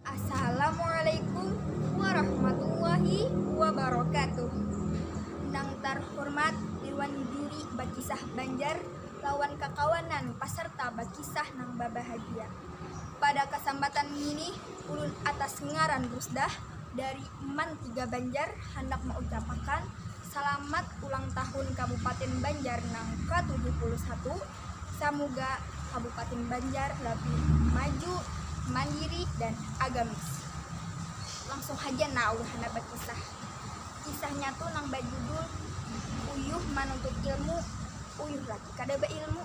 Assalamualaikum warahmatullahi wabarakatuh Nang tarhurmat Dirwan Juri Bakisah Banjar lawan kakawanan pasarta bakisah nang babahagia. Pada kasambatan ngini ulun atas ngaran Rusdah dari Man Tiga Banjar handak maucapakan salamat ulang tahun Kabupatin Banjar nang ka tujuh puluh satu, samuga kabupatin banjar labih maju mandiri dan agamis langsung haja nah ulun handak bakisah kisahnya tu nang bajudul uyuh manuntut ilmu uyuh lagi kada bailmu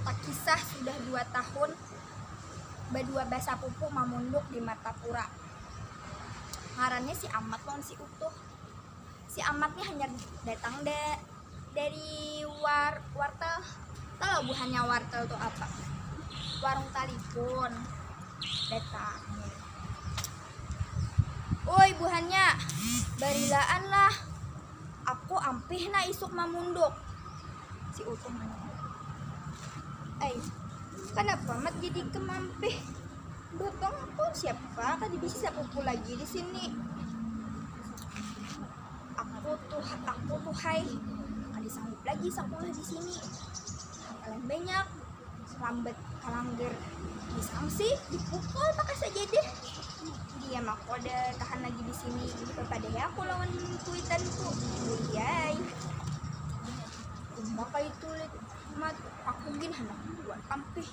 takisah sudah dua tahun badua basapupu mamunduk di martapura ngarannya si amat lawan si utuh. si amat nih hanyar datang da dari war wartel tahu buhannya wartel tuh apa warung talipun datang woi buhannya barilaan lah aku ampih na isuk mamunduk si utuh eh kenapa mat jadi kemampih Botong aku siapa tadi bisa sepupu lagi di sini Aku tuh aku tuhhai kada sanggup lagi sakulah di sini paling banyak lambat kalanggar di sangsi di pukul pakai sajadah dia mah kada tahan lagi di sini bepadai aku lawan kuitan ku buyai maka itu mat aku gin handak buat ampih.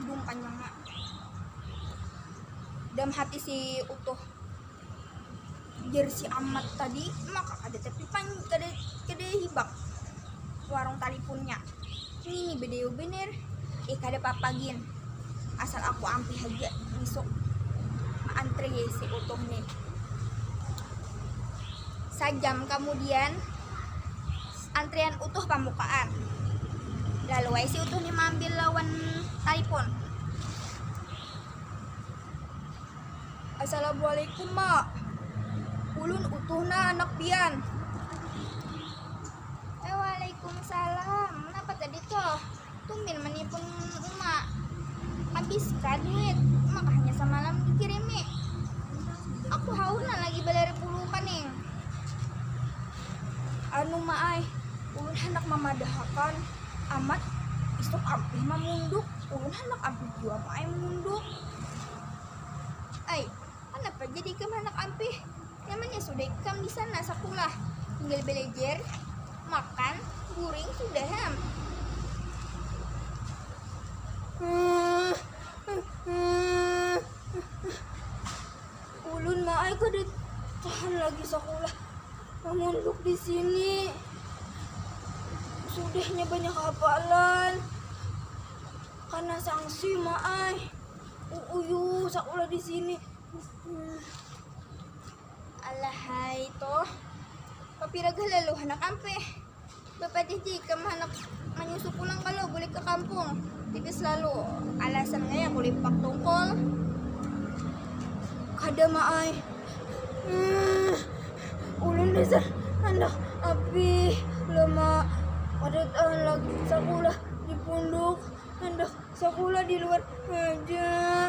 Agung panjangnya dalam hati si utuh jer si amat tadi maka kada tapi pan kada kada hibak warung talipunnya ini bedeo bener eh kada apa-apa gin asal aku ampi haja besok antri si utuh nih sajam kemudian Antrian utuh pamukaan. Lalu ai si utuh ni maambil lawan talipun. Assalamualaikum ma. Ulun utuh nah anak pian. Waalaikumsalam. Napa tadi tuh? Tumil manipun uma, habis kah duit, maka hanya samalam dikirimi. Aku haur nah lagi balari puluh kaning. Anu ma ai, ulun handak mamadahakan amat isuk ampih mamunduk, ulun handak ampih jua ma ai mamunduk. Ai, kanapa jadi ikam handak ampih, nyamannya sudah ikam disana sakulah, tinggal balajar. Makan guring sudah ham. Ulun ma ai kada tahan lagi sakulah, mamunduk di sini. Sudahnya banyak hafalan, kana sangsi ma ai. Uuyuh sakulah di sini. Alahai toh, papira gah lalu handak ampih. Bapadah ja ikam handak manyusu pulang kalo bulik ka kampung, tipis lalu alasan ngaya kulipak tungkul. Kada ma ai, ulun dasar handak ampih lo ma, kada tahan lagi sakulah di punduk, handak sakulah di luar haja.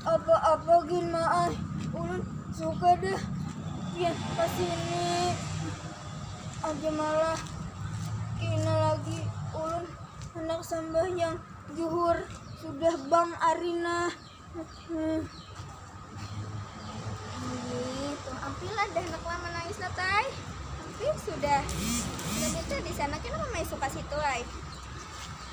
Apa apa gin ma ai ulun suka dah pian kasini aja malah kina lagi ulun handak sambahyang juhur sudah bang ari nah. Begitu, ampilah dah anak lama nangis nat ai, ampih sudah. Sudah beta disana kenapa maisuka situ ai.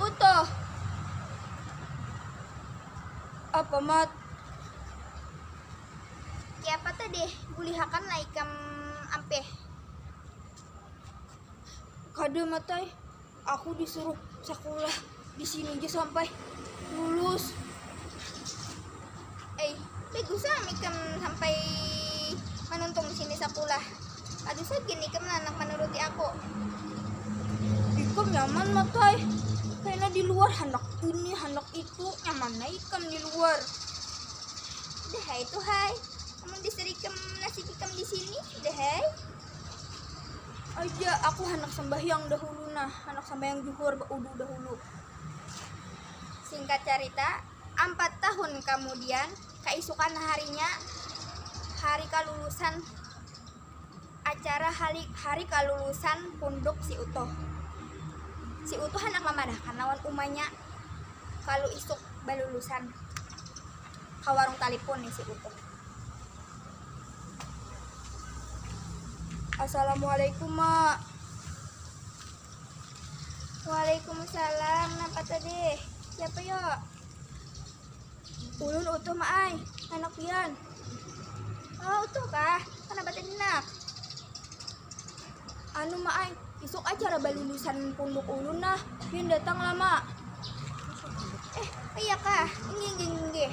Utuh. Apa mat? Kiapa tadi bulihakan lah ikam ampih? Kada mat ai, aku disuruh sakulah disini ja sampai lulus. Eh, bagus lah mikam sampai manuntung sini sekolah. Aduh saja nih kamu anak menuruti aku. Ikam nyaman matai. Karena di luar hendak ini, hendak itu, nyaman lah ikam di luar. Udah hai tuh hai. Kamu disuruh ikam nasi ikam di sini, udah hai. Aja aku hendak sembahyang dahulu nah, hendak sembahyang juhur, udah dahulu. Singkat cerita, Ampat tahun kamudian, kaisukan harinya, hari kalulusan acara hali hari kalulusan punduk si Utuh. Si Utuh handak mamadahakan lawan umanya kalu isuk balulusan ka warung talipun nih si Utuh. Assalamualaikum, Ma. waalaikumsalam napa tadi siapa yuk ulun utuh ma ai anak pian oh utuh kah kenapa tadi nak anu ma ai isuk acara balulusan punduk ulun nah pian datang lama eh iya kah inggih inggih inggih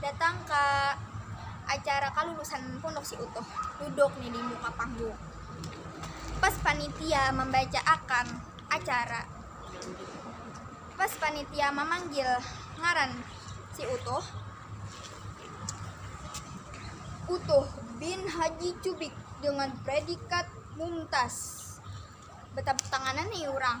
Datang ka acara kalulusan pondok si Utuh, duduk ni di muka panggung. Pas panitia mambaca akan acara, pas panitia mamanggil ngaran si Utuh, Utuh bin Haji Cubik dengan predikat Mumtaz, batapuk tanganan ni urang.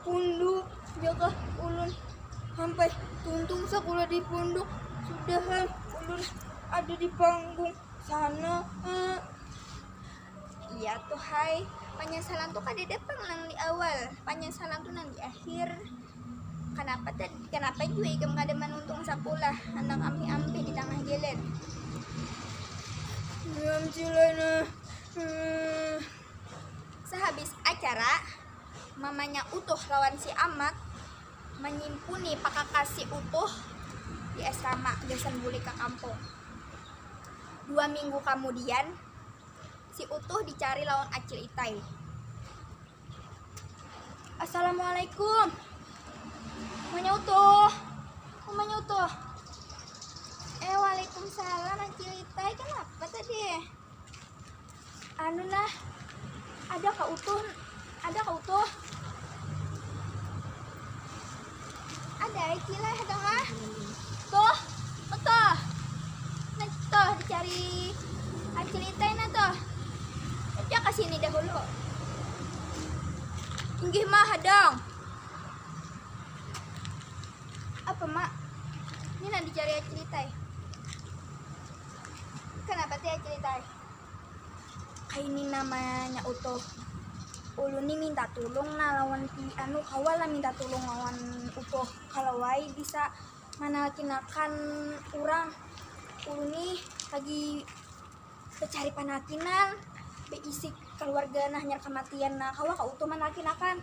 Punduk, jaga ulun hampai tuntung sakulah di punduk, sudahan ulun ada di panggung sana. Iya tuh hai, panyasalan tuh kadada pang nang di awal, panyasalan tuh nang di akhir. Kanapa tadi, kanapa jua ikam kada manuntung sakulah handak ampih-ampih di tangah jalan. Diam Cil ai nah. Sahabis acara. mamanya Utuh lawan si Amat manyimpuni pakakasi Utuh di asrama gasan bulik ka kampung. Dua minggu kamudian, si Utuh dicari lawan Acil Itai. Assalamualaikum. Mamanya Utuh. Mamanya Utuh. Eh, waalaikumsalam Acil Itai. Kanapa tadi? Anu nah, ada ka utuh, ada ka utuh. Ada ai kilah ada ha. Tuh, tuh. Nah, tuh dicari acil itai nah tuh. Aja ke sini dahulu. Inggih mah hadang. Apa mak? Ini nah dicari acil itai. Kenapa tiada cerita ai? Kaini namanya utuh. Ulun ni minta tulung nah lawan anu kawa lah minta tulung lawan utuh kalau ai bisa manakinakan urang. Ulun ni lagi bacari panakinan baisi kaluarga nah hanyar kamatian nah kawa kah utuh manakinakan.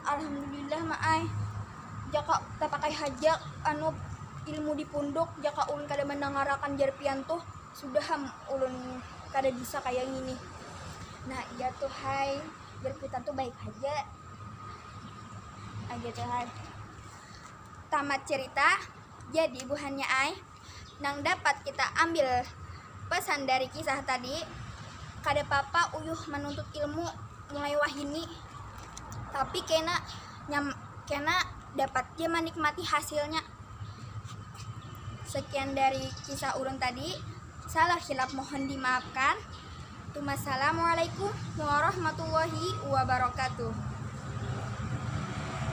Alhamdulillah ma ai, jaka tatakai haja anu ilmu di punduk jaka ulun kada mandangarakan jar pian tuh sudah am ulun kada bisa kaya ngini, nah iya tu hai jar kuitan tu baik haja ai, tamat cerita jadi buhannya ai. nang dapat kita ambil pesan dari kisah tadi, kada papa uyuh manuntut ilmu mulai wahini, tapi kena kena dapat ja manikmati hasilnya. Sekian dari kisah ulun tadi, salah hilap mohon dimaafkan. Tumassalamualaikum warahmatullahi wabarakatuh.